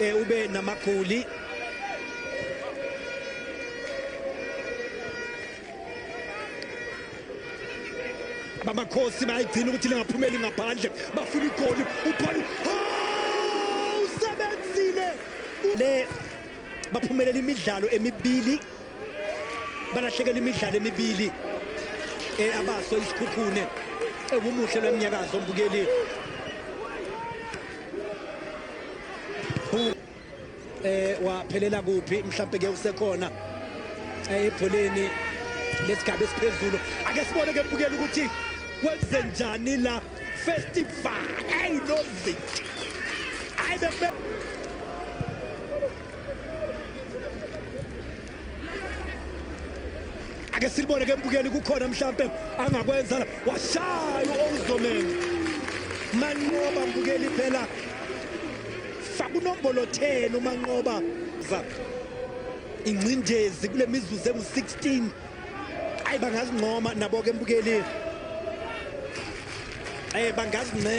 eh, ube namagoli bamakhosi bayayigcina ukuthi lingaphumeli ngaphandle bafuna igoli upholi usebenzile le baphumelela imidlalo emibili balahlekela imidlalo emibili eh, abaso isikhukhune ewumuhle lwemnyakazo mbukeli eh waphelela kuphi mhlawumbe ke usekhona eh, ebholeni lesigaba esiphezulu ake sibone ke mbukela ukuthi kwenze njani la festival ayi nozi ayi ake silibone ke mbukeli kukhona mhlampe angakwenza la washaya uOzomeni manqoba mbukeli phela faka unombolo 10 umanqoba za ingcindezi kule mizuzu engu-16 ayi bangazincoma nabo ke mbukeli eh bangazincoma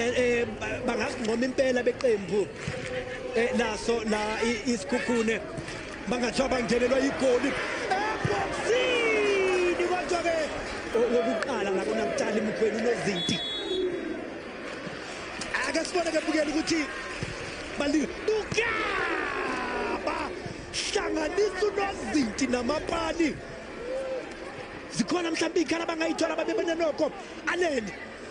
eh, impela beqembu eh, laso la isikhukhune bangathiwa bangenelwa yigoli ebhoksini kodwa-ke okokuqala ngakonakutshali mkhweni unozinti ake sibone-ke bukela ukuthi balibukaba hlanganisa unozinti namapani zikhona mhlawumbe iy'khala abangayithola babebenenoko anele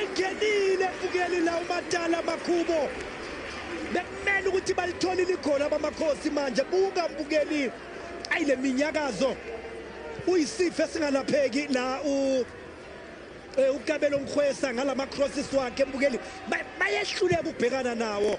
engenile ebukeli la umatala makhubo bekumele ukuthi balitholile igoli abamakhosi manje buka mbukeli ayi le minyakazo uyisifo esingalapheki la u eh, ukabelo mkhwesa ngalama crosses wakhe mbukeli bayehluleka ukubhekana nawo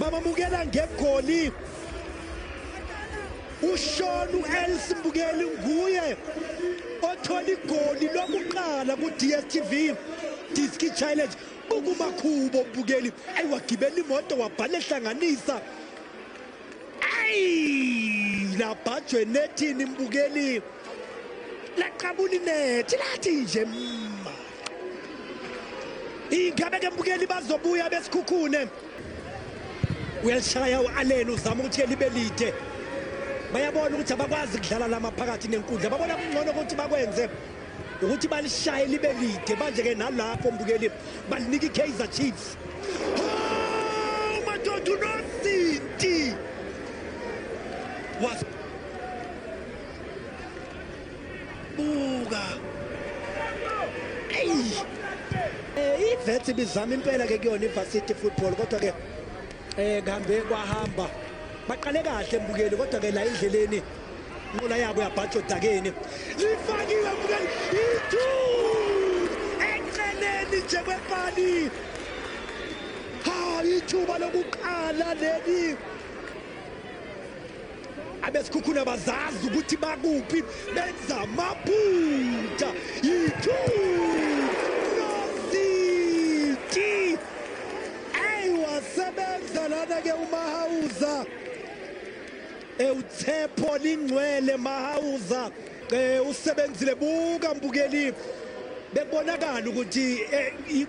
bamamukela ngegoli ushona u-els mbukeli nguye othola igoli lokuqala ku-dstv diski challenge bukumakhubo mbukeli ayiwagibela imoto wabhala ehlanganisa ayi labhajwe nethini mbukeli laqabula inethi lathi nje mma ingabe ke mbukeli bazobuya besikhukhune uyalishaya u-aleni uzama ukuthi elibe lide bayabona ukuthi abakwazi kudlala lama phakathi nenkundla babona kungcono ukuthi bakwenze ukuthi balishaye libe lide manje ke nalapho mbukeli balinika iKaizer Chiefs oh madoda unozinti was buka hey eh ivethi bizama impela ke kuyona iVarsity football kodwa ke eh ngihambe kwahamba baqale kahle mbukeli kodwa ke la endleleni Inqola yabo yabhatsha odakeni. Lifakiwe mngani ithu enqeneni nje kwepali. Ha ithuba lokuqala leli. Abesikhukhuna bazazi ukuthi bakuphi benza amaphutha. Ithu Noziti. Ayiwa sebenza lana ke umahawuza. Ewuthepho lingcwele Mahauza eh usebenzile buka mbukeli bekubonakala ukuthi eh,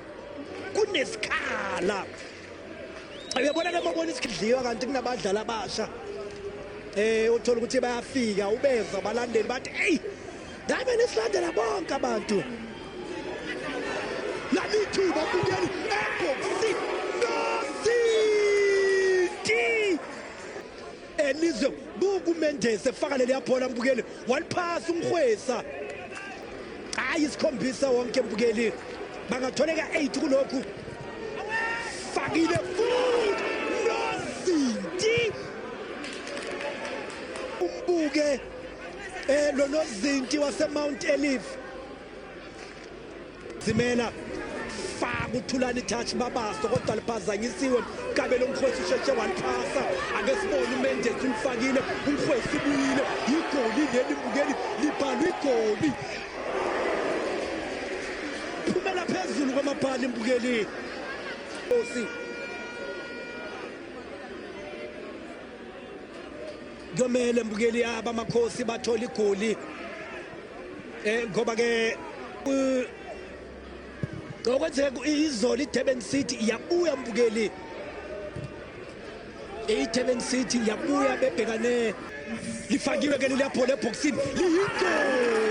kunesikhala uyabona ke mabona isikidliwa kanti kunabadlali abasha eh uthola ukuthi bayafika ubeza abalandeli bathi hey ngabe nisilandela bonke abantu lalithuba kungeni ekhosi Elizwe buku Mendes efaka leli yabhola mbukeli waliphasa umhwesa. Hayi isikhombisa wonke mbukeli. Bangatholeka 8 kulokhu. Fakile futhi nozinti. Umbuke eh lo nozinti wase Mount Olive Zimela faka uthulani touch babaso kodwa liphazanyisiwe kabe lomkhwesi usheshe waliphasa ake sibone umendes ulifakile umkhwesi ubuyile yigoli leli bukeli libhalwe igoli phumela phezulu kwamabhala imbukeli osi kuyomele mbukeli yaba amakhosi bathola igoli eh ngoba ke ngokwenzeka izolo iDurban City yabuya mbukeli iDurban City yabuya bebhekane lifakiwe ke liyaphola ebhoksini liyigoli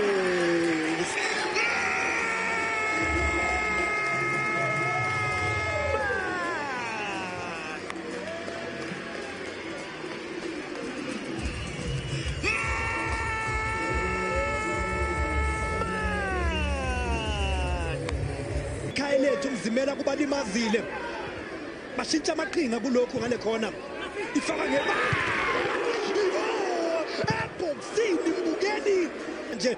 Khayelethu mzimela kubalimazile bashintsha amaqhinga kulokhu ngale khona ifaka ngebala ebhoksini mbukeni nje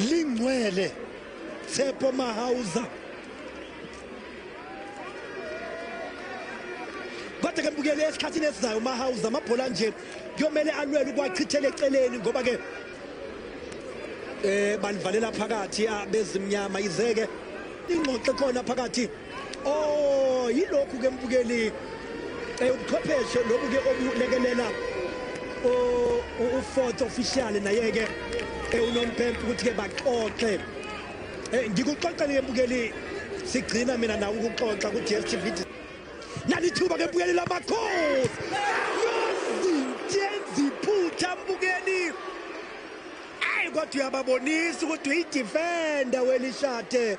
lingcwele Tshepo Mahauza kodwa ke mbukele esikhathini esizayo uMahauza amabhola nje kuyomele alwele ukwachithela eceleni ngoba ke eh balivalela phakathi abezimnyama izeke ingxoxo khona phakathi oh yilokhu ke mbukeli eh, ubuchwepheshe lobu ke obulekelela oh, u-fourth official naye-ke eh, unompempe ukuthi-ke baxoxe eh, ngikuxoxele-ke mbukeli sigcina mina nawe ukuxoxa ku-dstv nalithuba ke mbukeli lamakhosi yozintenziphutha mbukeli ayi kodwa uyababonisa ukuthi uyidifenda welishade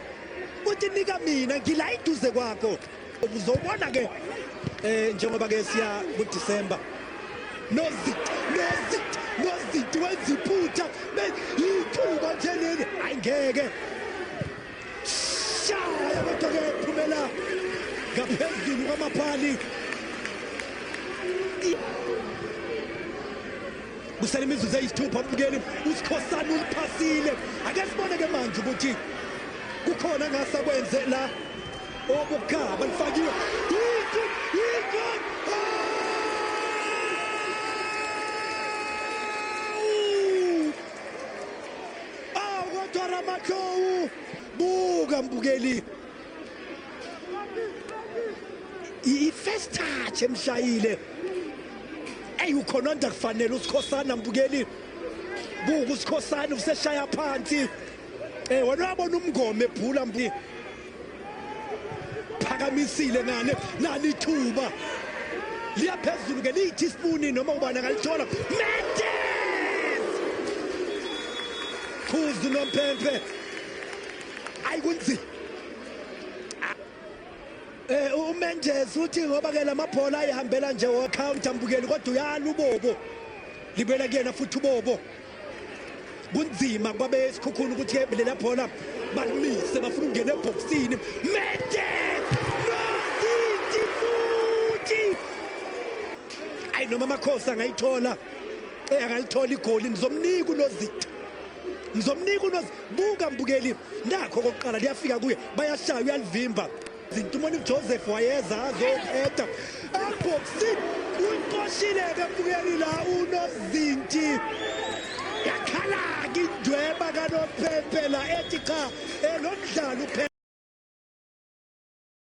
Uthi nika mina ngila iduze kwakho. Uzobona ke eh njengoba ke siya ku December. Nozi nozi nozi wenza iphutha yithuba nje leli hayi ngeke. Shaya kodwa ke phumela ngaphezulu kwamaphali. kusele imizuzu eyisithupha ubukeli usikhosana uliphasile ake sibone ke manje ukuthi kukhona ngasa kwenze la obukhaba lifakiwe Ramakau buka mbukeli i-first touch emshayile eyi ukhononda kufanele usikhosana mbukeli buka usikhosana useshaya phansi um wena wabona umngoma ebhula mbu phakamisile nane nani ithuba liya phezulu ke liyithi isipuni noma ubani angalithola mendes khuzu nomphemphe ayi kunzima Eh uMendes uthi ngoba ke lamabhola ayihambela nje wo counter mbukeli kodwa uyala ubobo libela kuyena futhi ubobo kunzima kwabe esikhukhulu ukuthi lela bhola balimise bafuna ukungena ebhoksini Mendes nozinti futhi ayi noma amakhosi angayithola eh akalithola igoli nizomnika unozinti ngizomnika unozi buka mbukeli nakho kokuqala liyafika kuye bayashaya uyalivimba zintumoni joseph wayeza azoqeda eboxini uyiqoshile-ke mbukeli la unozinti yakhala-ke indweba kanophempela ethi cha eh, lo mdlalo